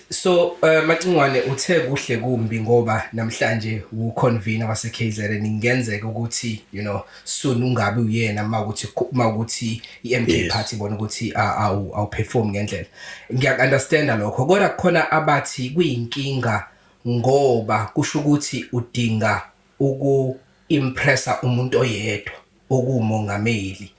So uh, eh, Macingwane uthe kuhle kumbi ngoba namhlanje wu convener wase KZN ingenzeka ukuthi you know soon ungabe uyena mawukuthi mawukuthi iMK yes. party bona ukuthi awu awu perform ngendlela ngiya understand lokho kodwa khona abathi kuyinkinga ngoba kusho ukuthi udinga uku impressa umuntu oyedwa okuwumongameli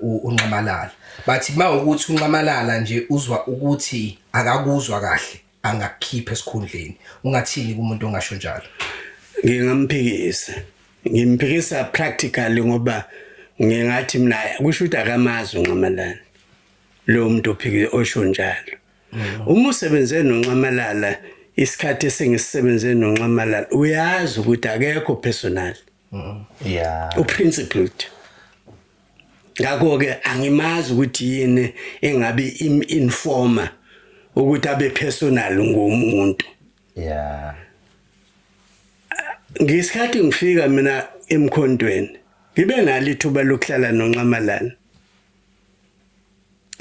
uNxamalala bathi mawukuthi uNxamalala nje uzwa ukuthi akakuzwa kahle angakukhipha esikhundleni ungathini kumuntu ongasho njalo ngingamphikisa ngimphikisa practically ngoba ngingathi mina kusho ukuthi akamazi uNxamalala lo muntu ophikile osho njalo mm. uma usebenze noNxamalala isikhathi esengisisebenze noNxamalala uyazi ukuthi akekho personal yeah uprincipled ngakho ke angimazi ukuthi yini engabe im informer ukuthi abe personal ngomuntu yeah ngesikhathi ngifika mina emkhontweni ngibe nalo ithuba lokuhlala nonxamalana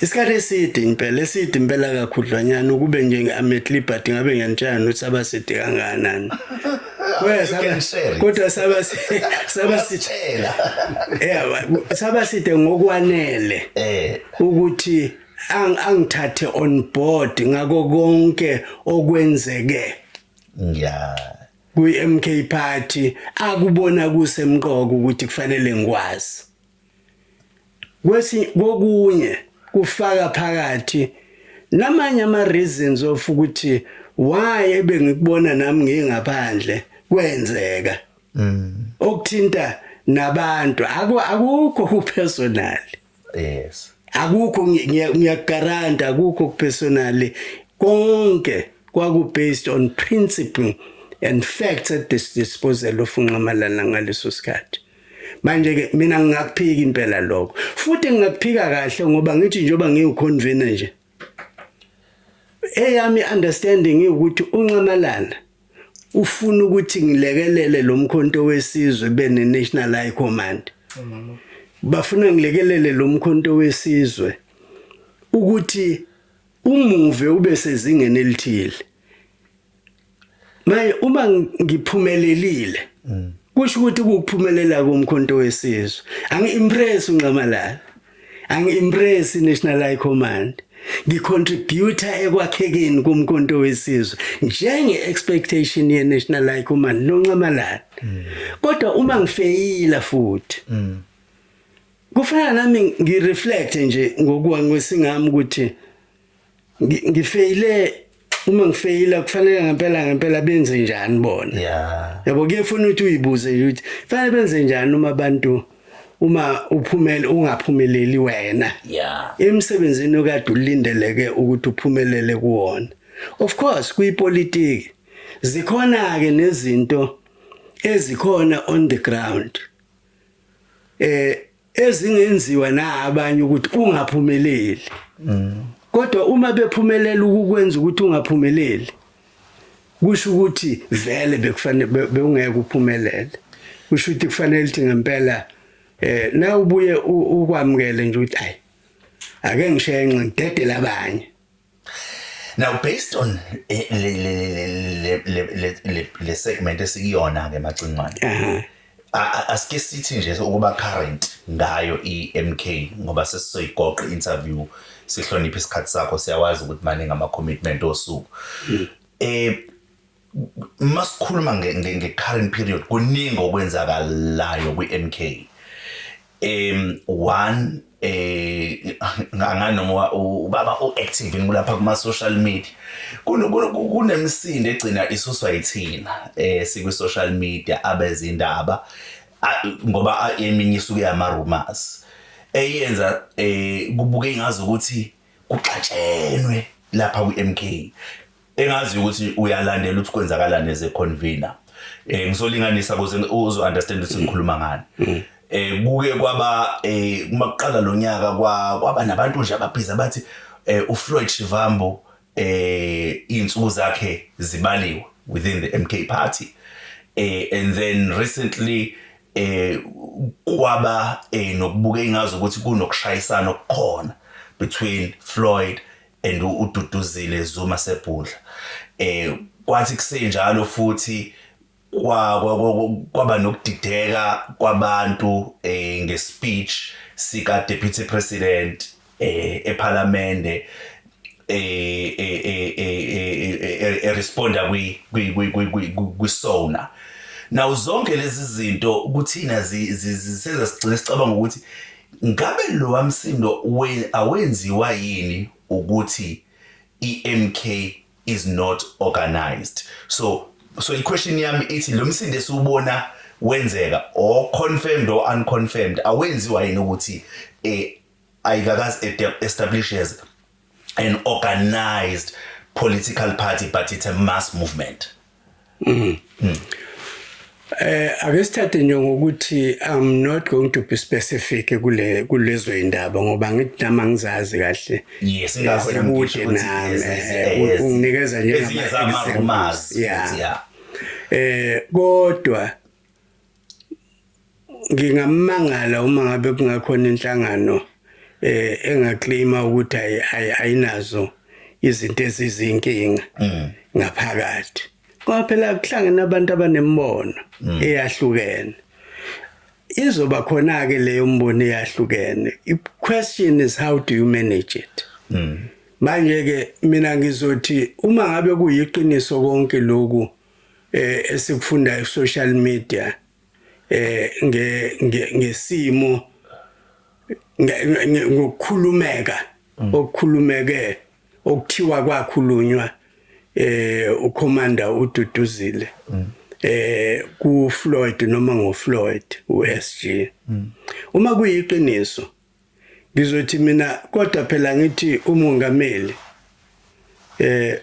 isikhathi eside impela eside impela kakhudlwanyana ukube nje ngi-amet liberty ngabe ngiyanitshaya nokuthi saba side kangakanani kodwa saba sithela saba side ngokwanele eh. ukuthi angithathe on board ngako konke okwenzeke yeah kwi-MK party akubona kusemqoka ukuthi kufanele ngikwazi Kwesi kokunye kufaka phakathi namanye ama reasons of ukuthi why ebengikubona nami ngingaphandle kwenzeka. Mm. Okuthinta nabantu akukho ku personal. Yes. Akukho ngiyagaranta akukho ku personal konke kwaku based on principle and facts at this disposal of uNxamalala ngaleso sikhathi. manje ke mina ngingakuphika impela lokho futhi ngingakuphika kahle ngoba ngithi njengoba ngiwuconvener nje eyami understanding ukuthi unxamalana ufuna ukuthi ngilekelele lo mkhonto wesizwe bene National High Command bafuna ngilekelele lo mkhonto wesizwe ukuthi umuve ube sezingeni elithile Manje uma ngiphumelelile mm. kusho ukuthi ukuphumelela komkhonto wesizwe angi-impress unxamalala angi-impress i-national high command ngicontributa ekwakhekeni komkhonto wesizwe njenge-expectation ye-national high command nonxamalala mm. kodwa uma ngifeyila futhi mm. kufana nami ngireflect nje ngokuwa ngwesingami ukuthi Ngi- ngifeyile uma ngifeyila kufanele ngempela ngempela benze njani bona Yeah. yabo kuyefuna ukuthi uyibuze nje ukuthi fanele benze njani uma abantu uma uphumele ungaphumeleli wena Yeah. emsebenzini okade ulindeleke ukuthi uphumelele kuwona of course kuyipolitiki zikhona ke nezinto ezikhona on the ground eh ezingenziwa na abanye ukuthi ungaphumeleli kodwa uma bephumelela ukukwenza ukuthi ungaphumeleli kusho ukuthi vele bekufanele bewungeke uphumelele kusho ukuthi kufanele ukuthi ngempela eh na ubuye ukwamukele nje ukuthi ayi ake ngishenxe ngidedele abanye Now based on eh, le le le le le segment esikuyona ke macingwane. Eh. Asike sithi nje ukuba current ngayo iMK ngoba sesizoyigoqa interview sihloniphe isikhathi sakho siyawazi ukuthi maningi ama commitment osuku. Hmm. Eh uma sikhuluma nge-current period kuningi okwenzakalayo kwi-m k um one eh nganoma ubaba uactive kulapha kuma social media kunemisindo egcina isuswa yithina eh sikwi social media abezindaba ngoba eminye isuke yama rumors eyenza eh kubuke ngazi ukuthi kuxatshenwe lapha kwi MK engazi ukuthi uyalandela ukuthi kwenzakalani as a convener eh ngizolinganisa ukuze uzo understand ukuthi ngikhuluma ngani mm. eh kuke kwaba eh uma kuqala lonyaka kwaba nabantu nje ababhiza bathi eh uFloyd Shivambo eh insuku zakhe zibaliwe within the MK party eh and then recently eh kwaba eh nokubuka ingazi ukuthi kunokushayisana okukhona between Floyd and ududuzile Zuma sebhudla eh kwathi kusenjalo futhi kwa kwaba nokudideka kwabantu eh ngespeech sika deputy president eh ePhalamende eh eh eh responda kwi kwi kwi kwi sona now zonke lezi zinto kuthina zisenza sigcina sicabanga ukuthi Ngabe lowa msindo awenziwa yini ukuthi iMK is not organized? So so iquestion yami ithi lo msindo esiwubona wenzeka or confirmed or unconfirmed awenziwa yini ukuthi eh ayikakazi establishes an organized political party but it's a mass movement mm. Mm. Eh ake sithathe nje ngokuthi I'm not going to be specific kule kulezo indaba ngoba ngithi nama ngizazi kahle. Yes, ngakho ngibude nami. Eh, unginikeza nje ngama examples. Yeah. Eh kodwa ngingamangala uma ngabe kungakhona inhlangano eh engaclaima ukuthi ayinazo izinto ezizinkinga mm. ngaphakathi ngoba phela kuhlangene abantu abanembono mm. eyahlukene izoba khona ke leyo mbono eyahlukene i question is how do you manage it mm. manje ke mina ngizothi uma ngabe kuyiqiniso konke lokhu eh esikufunda ku social media eh nge ngesimo ngokukhulumeka mm. okukhulumeke okuthiwa kwakhulunywa eh ucommander ududuzile mm. eh ku Floyd noma ngo Floyd uSG mm. uma kuyiqiniso ngizothi mina kodwa phela ngithi umongameli eh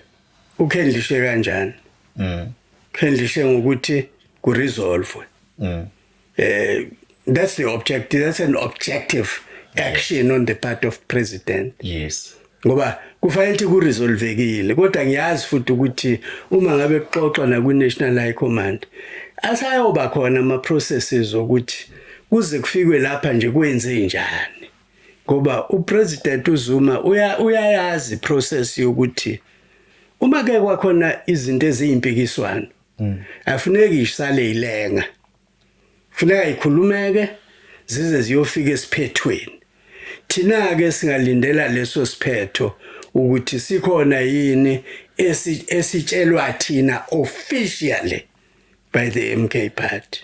ukhendlishe kanjani mm khendlishe ngokuthi ku resolve mm eh that's the objective that's an objective action on the part of president yes ngoba kufanele ukuthi kuresolvekile kodwa ngiyazi futhi ukuthi uma ngabe kuxoxwa nakwi-national high command asayoba khona ama-processes okuthi kuze kufikwe lapha nje kwenze njani ngoba upresident uZuma uyayazi process yokuthi uma ke kwakhona izinto eziyimpikiswano mm. afuneki isale ilenga Funeka ikhulumeke zize ziyofika esiphethweni. Thina-ke singalindela leso siphetho ukuthi sikhona yini esitshelwa thina officially by the MK party.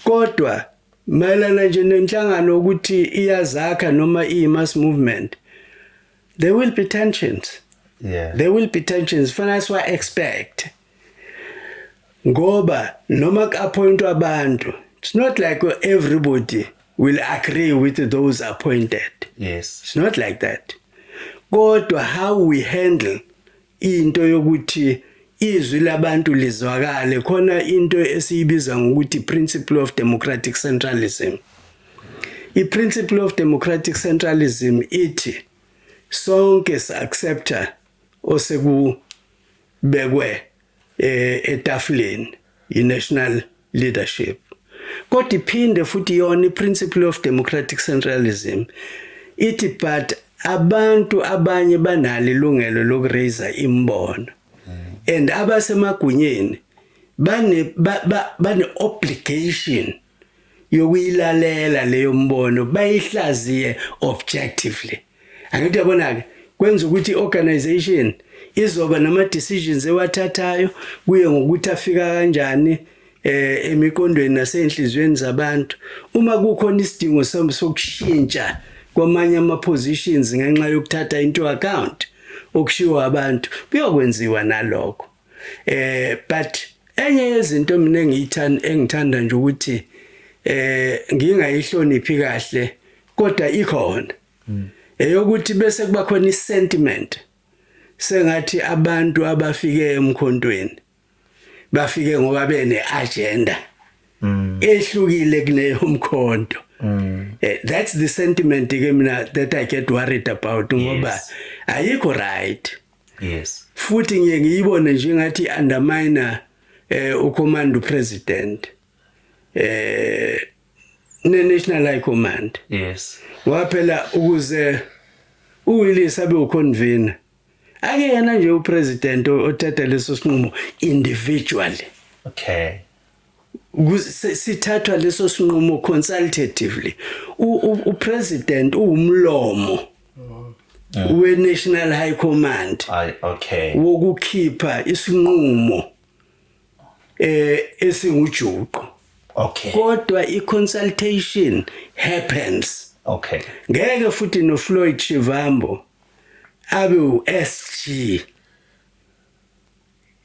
Kodwa mayelana nje nenhlangano ukuthi iyazakha noma iyi-mass movement, there will be tensions. Yeah. There will be tensions. Fanele siwa-expect. ngoba noma ku-appointwa abantu it's not like everybody will agree with those appointed yes it's not like that kodwa how we handle into yokuthi izwi labantu lizwakale khona into esiyibiza ngokuthi principle of democratic centralism i-principle of democratic centralism ithi sonke si-accepta oseku bekwe eh, etafuleni yi-national leadership kodwa iphinde futhi yona i-principle of democratic centralism ithi but abantu abanye banalo ilungelo lokuraiser imbono and abasemagunyeni bane bane obligation yokuyilalela leyo mbono bayihlaziye objectively angithi yabona ke kwenza ukuthi organization izoba nama decisions ewathathayo kuye ngokuthi afika kanjani eh emiqondweni nasenhlizweni zabantu uma kukhona isidingo sokushintsha kwamanye ama positions ngenxa yokuthatha into account okushiwo abantu kuyokwenziwa nalokho eh but enye yezinto mina engiyithanda engithanda nje ukuthi eh ngingayihloniphi kahle kodwa ikhona hmm. eyokuthi bese kuba khona isentiment sengathi abantu abafike emkhontweni bafike ngoba bene agenda hmm. ehlukile kuneyo mkhonto Mm. Eh, that's the sentiment ke mina that I get worried about ngoba ayikho right. yes futhi ngiye ngiyibone nje ngathi underminer eh ucommand president eh ne national high command yes waphela ukuze uwilisa be uconvener akuyena nje upresident othatha leso sinqumo individually okay sithathwa leso sinqumo consultatively u president uwumlomo we National High Command ay okay wokukhipha isinqumo eh esingujuqo okay kodwa i consultation happens okay ngeke futhi no Floyd Shivambo abe u SG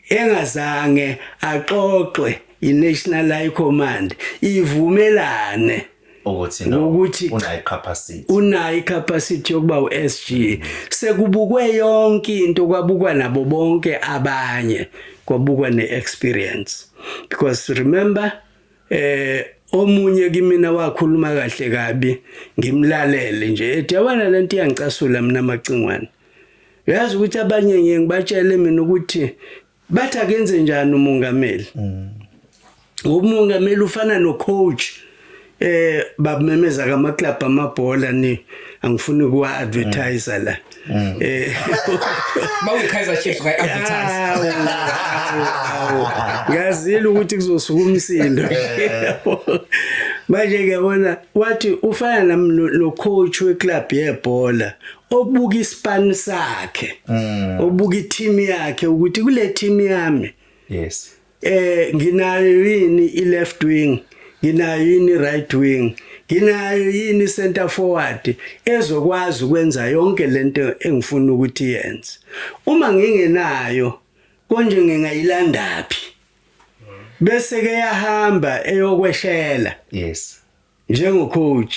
engazange axoxe iNational High Command ivumelane ukuthi no ukuthi unayi capacity unayi capacity yokuba uSG sekubukwe yonke into kwabukwa nabo bonke abanye kwabukwa neexperience because remember eh omunye kimina wakhuluma kahle kabi ngimlalele nje ethi yabona lento iyangicasula mina macingwane uyazi ukuthi abanye ngiye ngibatshele mina ukuthi bathi akenze njani umongameli mm. ngoba umongameli ufana no-coach eh babumemeza kama club amabhola ni angifuni ukuwa advertiser la mm. eh mawukhaiza chiefs ka advertise ngazile ukuthi kuzosuka umsindo eh. manje ngiyabona wathi ufana no coach we club yebhola obuka ispan sakhe mm. obuka i-team yakhe ukuthi kule team yami yes eh nginayo yini i-left wing nginayo yini i-right wing nginayo yini center forward ezokwazi ukwenza yonke lento engifuna ukuthi yenze uma ngingenayo konje ngingayilandaphi bese ke yahamba eyokweshela yes njengo coach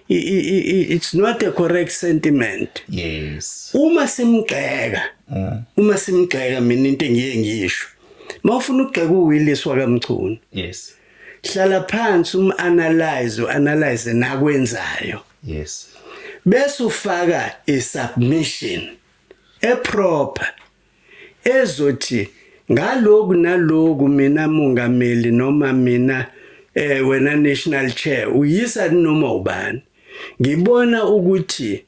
it's not a correct sentiment yes uma simgxeka mm. uma simgxeka mina into engiye ngisho mawufuna ukugxeka uWillis wakamchunu yes hlala phansi um analyze uanalyze nakwenzayo yes bese ufaka i submission e proper ezothi ngaloku naloku mina mongameli noma mina eh wena national chair uyisa noma ubani ngibona ukuthi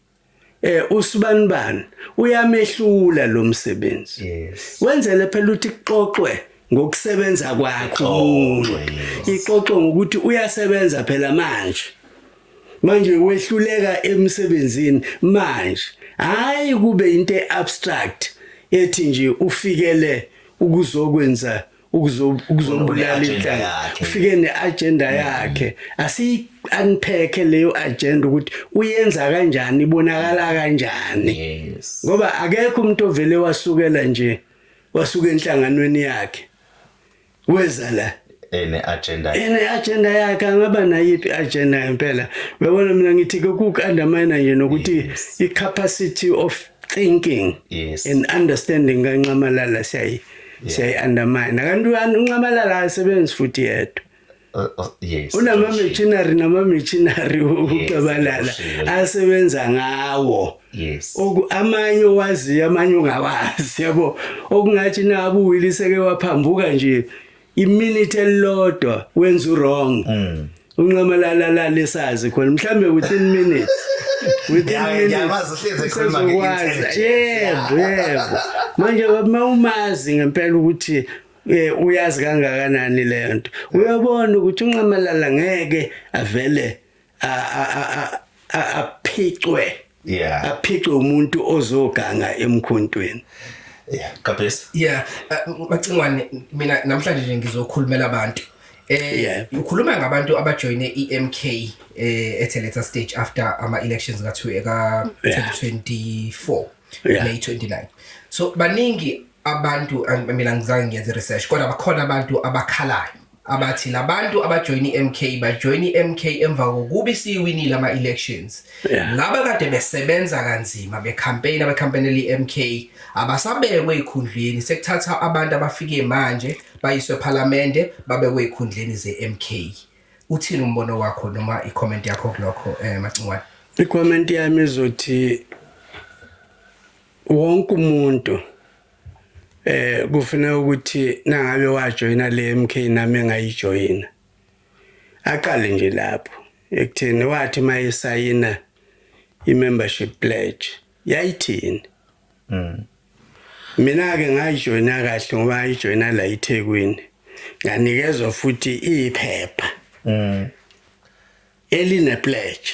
eh usibanibani uyamehlula lo msebenzi yes. wenzele phela ukuthi kuxoxwe ngokusebenza kwakhe umuntu ixoxwe ngokuthi uyasebenza phela manje manje wehluleka emsebenzini manje hayi kube into abstract ethi nje ufikele ukuzokwenza ukuzobulala inhlanga ufike neagenda mm. yakhe asi unpack leyo agenda ukuthi uyenza kanjani ibonakala kanjani ngoba akekho umuntu ovele wasukela nje wasuka enhlanganweni yakhe weza la ene agenda ene agenda yakhe angaba nayiphi agenda impela uyabona mina ngithi ke ku undermine nje nokuthi yes. i capacity of thinking yes. and understanding kanxamalala siyayi yeah. siyayi undermine kanti unxamalala asebenzi futhi yedwa Uh, uh, yes unama machinery nama machinery ucabalala asebenza ngawo yes oku amanye wazi amanye ungawazi yabo okungathi nabu wiliseke waphambuka nje iminute elilodwa wenza wrong mm. unqamalala la lesazi khona mhlambe within minutes within minutes yebo yebo manje uma umazi ngempela ukuthi eh uyazi kangakanani lento uyabona ukuthi unqamalala ngeke avele aphicwe yeah aphicwe umuntu ozoganga emkhontweni yeah kabes yeah uh, macingwane mina namhlanje nje ngizokhulumela abantu eh ukhuluma ngabantu abajoine iMK eh ethe later stage after ama elections ka 2024 May 29 so baningi abantu mina ngizange ngiyenze research kodwa bakhona abantu abakhalayo abathi labantu abajoyina iMK bajoyina iMK emva kokuba isiwinile ama elections laba kade besebenza kanzima be campaign abe campaign eli MK abasabekwe ekhundleni sekuthatha abantu abafike manje bayiswe parliament babekwe ekhundleni ze MK uthini umbono wakho noma i comment yakho kulokho eh macingwane i comment yami izothi wonke umuntu eh kufuneka ukuthi nangabe wajoyina le MK nami engayijoyina aqale nje lapho ekutheni wathi mayesayina i-membership pledge yayithini mm. mina ke ngayijoyina kahle ngoba ngayijoyina la iThekwini nganikezwa futhi iphepha mm. eline pledge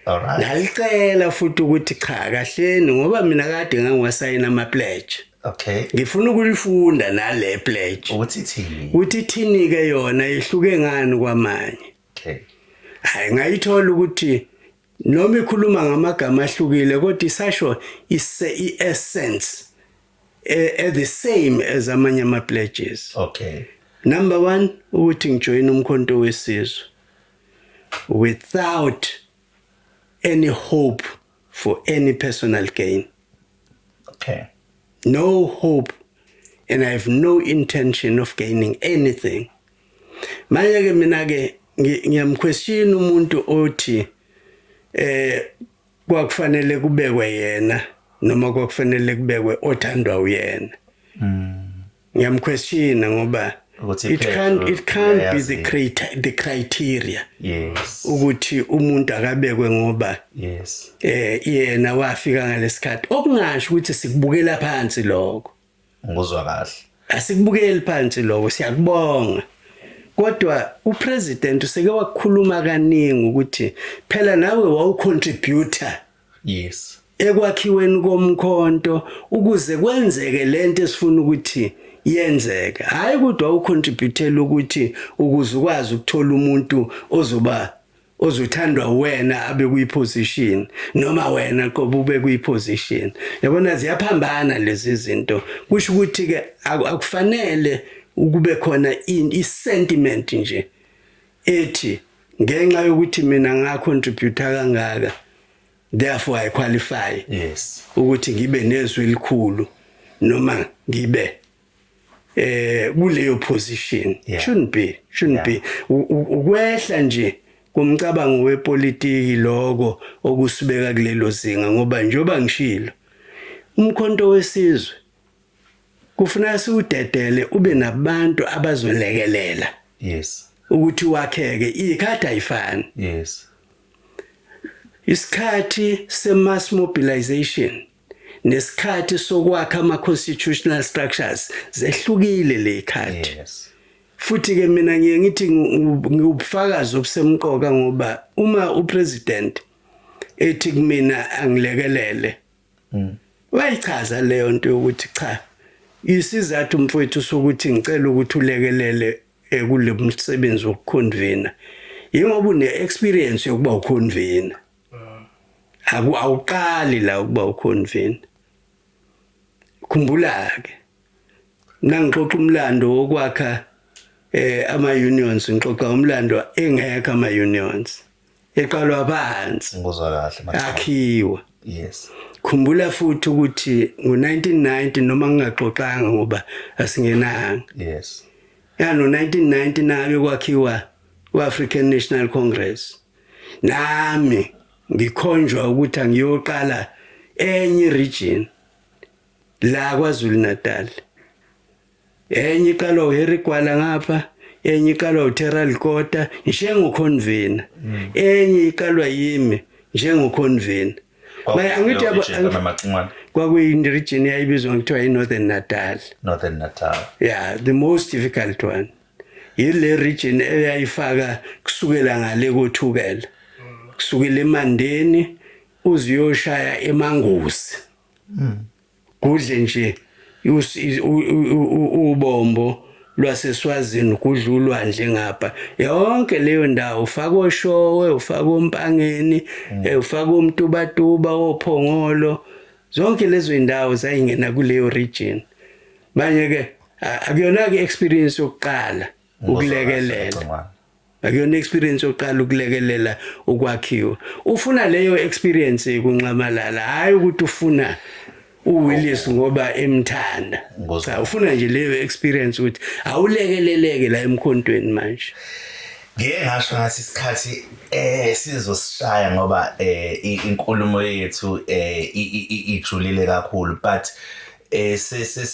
Alright. Ngalicela futhi ukuthi cha kahleni ngoba mina kade ngangiwasayina ama pledge. Okay. Ngifuna ukulifunda nale pledge. Ukuthi thini? Ukuthi thini ke yona ihluke ngani kwamanye. Okay. Hayi ngayithola ukuthi noma ikhuluma ngamagama ahlukile kodwa isasho ise i-essence eh, eh the same as amanye ama pledges. Okay. Number 1 ukuthi ngijoyina umkhonto wesizwe. without any hope for any personal gain. Okay. No hope and I have no intention of gaining anything. Manje ke mina ke ngiyamquestion umuntu othi eh kwakufanele kubekwe yena noma kwakufanele kubekwe othandwa uyena. Mm. ngiyamquestiona ngoba it can't it can't be the creator the criteria yes ukuthi umuntu akabekwe ngoba yes eh yena wafika ngalesikhathi okungasho ukuthi sikubukela phansi lokho ngozwa kahle asikubukeli phansi lokho siyakubonga kodwa upresident useke wakhuluma kaningi ukuthi phela nawe wawucontributor Yes. Ekwakhiweni komkhonto ukuze kwenzeke lento esifuna ukuthi yenzeke. Hayi kodwa ucontributele ukuthi ukuze ukwazi ukuthola umuntu ozoba ozothandwa wena abe kuyiposition noma wena qoba ube kuyiposition yabona ziyaphambana lezi zinto kusho ukuthi ke akufanele ukube khona i sentiment nje ethi ngenxa yokuthi mina nga contributor kangaka therefore i qualify yes ukuthi ngibe nezwi elikhulu noma ngibe eh kuleyo position yeah. shouldn't be shouldn't yeah. be ukwehla nje kumcabango wepolitiki lokho okusibeka kulelo zinga ngoba njoba ngishilo umkhonto wesizwe kufuneka siwudedele ube nabantu abazolekelela yes ukuthi wakheke ikhathi ayifani yes isikhathi se mass mobilization nesikhathi sokwakha ama constitutional structures zehlukile lekhathi yes futhi ke mina ngiye ngithi ngiwubufakazi obusemqoka ngoba uma upresident ethi kumina angilekelele mm. wayichaza leyo nto yokuthi cha isizathu mfowethu sokuthi ngicela ukuthi ulekelele ekule eh, msebenzi wokukhonvina yingoba une-experience yokuba ukhonvina awuqali la ukuba ukhonvina khumbula-ke mna ngixoxa umlando wokwakha um eh, ama-unions ngixoxa umlando engekho ama-unions eqalwa phansi ngizwa kahle manje akhiwa yes khumbula futhi ukuthi ngo1990 noma ngingaxoxanga ngoba asingenanga yes yano 1990 nabe kwakhiwa uAfrican National Congress nami ngikhonjwa ukuthi angiyoqala enye region la kwaZulu Natal enye iqalwa uHarry Gwala ngapha enye iqalwa uTerrell Kota njengoconvener mm. enye iqalwa yimi njengoconvener manje angithi yabo kwakuyini region yayibizwa ngithiwa iNorthern Natal Northern Natal yeah the most difficult one yile region eyayifaka kusukela ngale kothukela kusukela eMandeni uziyoshaya eMangusi mm. Gudle nje ubombo lwaseSwazini kudla ulwandle ngapha yonke leyo ndawo ufaka oshowe ufaka ompangeni mm. eh, ufaka omtubatuba ophongolo zonke lezo indawo zayingena kuleyo region manje ke akuyona ke experience yokuqala ukulekelela akuyona experience yokuqala ukulekelela ukwakhiwa ufuna leyo experience kunxamalala hayi ukuthi ufuna uWillis ngoba emthanda cha ufuna nje leyo experience ukuthi awulekeleleke la emkhontweni manje ngeke ngasho ngathi isikhathi eh sizosishaya ngoba eh inkulumo yethu eh ijulile kakhulu but eh